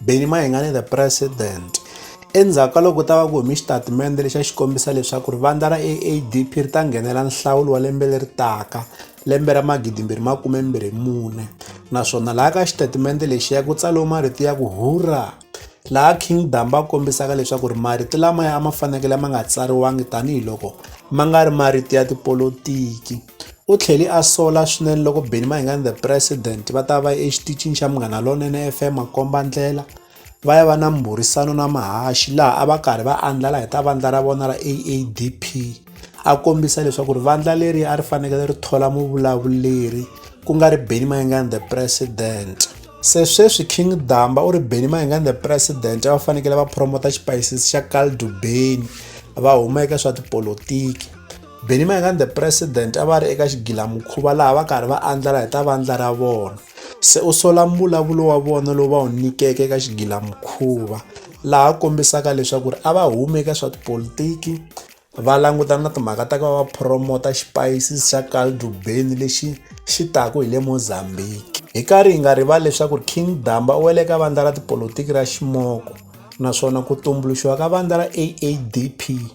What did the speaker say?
Benny Mayengane the president endzhaku ka loko ta va ku humi xitatimende lexi a xi kombisa leswaku ri vandla ra aadp ri ta nghenela nhlawulo wa lembe leri taka lembe ra magidimbirhi makume mbirhi mune naswona laha ka xitatimende lexi ya ku tsaliwe marito ya ku hurra laha king damba a kombisaka leswaku ri marito lamaya a ma fanekele ma nga tsariwangi tanihiloko ma nga ri marito ya tipolotiki U tlhele a sola swinene loko Benny Mayengani The President va ta va exitichini xa Munghana Lonene FM makomba-ndlela va ya va na mbhurisano na mahaxi laha a va karhi va andlala hi ta vandla ra vona ra AADP a kombisa leswaku ri vandla leri a ri fanekele ri thola muvulavuleri ku nga ri Benny Mayengani The President se sweswi king damba u ri benny mayengani the president a va fanekele va promota xipayisisi xa caldo benny va huma eka swa tipolotiki Benny Mayengani the president a va ri eka xigilamukhuva laha va karhi va andlala hi ta vandla ra vona se u sola mbulavulo wa vona lowu va wu nyikeke eka xigilamukhuva laha kombisaka leswaku ri a va humi eka swa tipolitiki va langutana na timhaka ta ku va va promota xipayisi xa caldo beni lexi xi taku hi le mozambique hi karhi hi nga rivali leswaku ri king damba u wele ka vandla ra tipolotiki ra ximoko naswona ku tumbuluxiwa ka vandla ra aadp